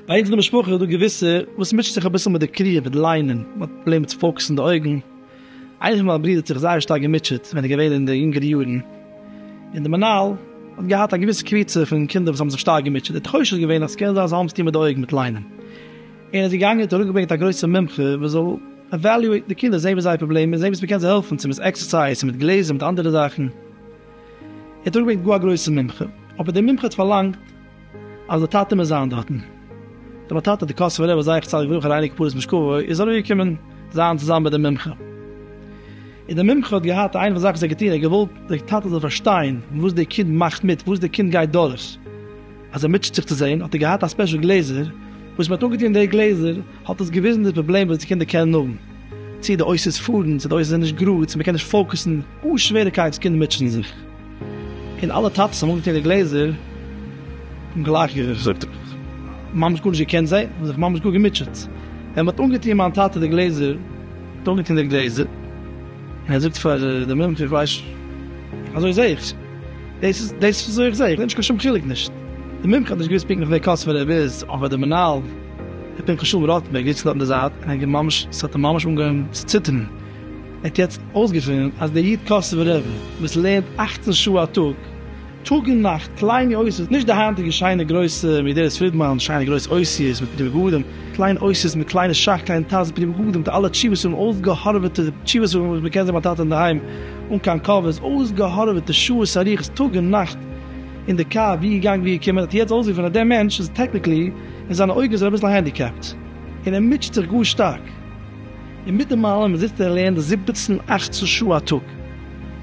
ביי אונז אין די משפחה איז דא געוויסע וואס מוטשעט זיך אביסל מיט די קריאה מיט ליינען, מען האט פראבלעם מיט פאוקעסן די אויגן, איינער פון מיין ברידער האט זיך זייער שטארק געמוטשעט ווען ער איז געווען אין די יונגערע יארן, און די מנהל האט געהאט א געוויסע קבוצה פון קינדער וואס האבן זיך שטארק געמוטשעט, די תחושה איז געווען אז ס'קען זיין אז זיי האבן עס טון מיט די אויגן מיט ליינען. און איז געגאנגען און האט אראפגעברענגט א גרויסע מומחה וואס זאל עוועליועיטן די קינדער, זעהן וואס זייער פראבלעם איז, זעהן וואס מען קען זיי העלפן, צו מיט עקסערסייז, צו מיט גלעזער, צו מיט אנדערע זאכן, ער האט אראפגעברענגט גאר א גרויסע מומחה, אבער דער מומחה האט פארלאנגט אז די טאטע מוז זיין דארטן, דער בר טאטע, דער קאסובער רבי זי ע צדיק לברכה און אייניגע פארעס משכבו, איז אראפגעקומען זיין צוזאמען מיט דעם מומחה, און דער מומחה האט געהאט איינע פון די זאכן וואס ער האט געטון, ער האט געוואלט דער טאטע זאל פארשטיין וואס דער קינד מאכט מיט, וואס דער קינד גייט דורך. אז ער מוטשעט זיך צו זעהן האט ער געהאט א ספעשל גלעזער, וואס מען האט אנגעטון די גלעזער האט עס געוויזן די פראבלעם וואס די קינדער קענען האבן, צו די אויסערס פארן, צו די אויסערס זענען נישט גראד, צו מען קען נישט פאוקעסן, גאר שווערע קייטס קינדער מוטשען זיך, און אלע טאטעס האבן אנגעטון די גלעזער און גלייך געזאגט, ממש גארנישט געקענט זעהן, און זיך ממש גאר געמוטשעט, ווען מען האט אנגעטון מיין טאטע די גלעזער, האט אנגעטון די גלעזער, און ער זאגט פאר די מומחה איך ווייס נישט, אזוי זעה איך. דאס איז דאס וואס איך זעה, איך זעה נישט קיין שום חילוק נישט, די מומחה האט נישט געוויסט פונקטליך ווער קאסובער רב איז, אבער די מנהל ר' פנחס שלום ראטנבערג זיצט דארט אין די זייט און ער האט ממש, עס האט אים ממש אנגעהויבן צו ציטערן, ער האט יעצט אויסגעפונען אז דער איד קאסובער רב וואס לערנט אַכצן שעה א טאג, טאג און נאכט, קליינע אותיות, נישט די היינטיגע שיינע גרויסע ווי דער ר' פרידמאן, שיינע גרויסע אותיות מיט פני בגדים, קליינע אותיות מיט קליינע שך, קליינע טז, פני בגדים, די אלע תשובות האבן אויסגעהארוועטע תשובות וואס מען קען זען ביי טאטע אינדערהיים. אן קיין קאווע, איז אויסגעהארעוועטע שעות ארוכות טאג און נאכט אין די קאר, ווי געגאנגען ווי געקומען, האט יעצט אויסגעפונען אז דער מענטש איז טעקניקלי, אין זיינע אויגן איז ער אביסל הענדיקעפט, און ער מוטשעט זיך גאר שטארק. און מיט דעם אלעם זיצט ער און לערנט זיבעצן אכצן שעה א טאג.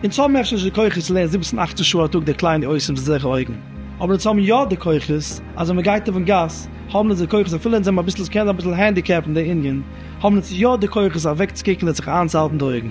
אונז האבן אפשר נישט די כוחות צו לערנען זיבעצן אכצן שעה א טאג די קליינע אויסען מיט אזעלכע אויגן, אבער אונז האבן יא די כוחות, אז ווען מען גייט אויפן גאס, האבן אונז די כוחות אפילו אונז זענען אביסל, עס קען זיין אביסל הענדיקעפט אין די ענין, האבן אונז יא די כוחות אוועקצוקוקן און זיך איינצוהאלטן די אויגן,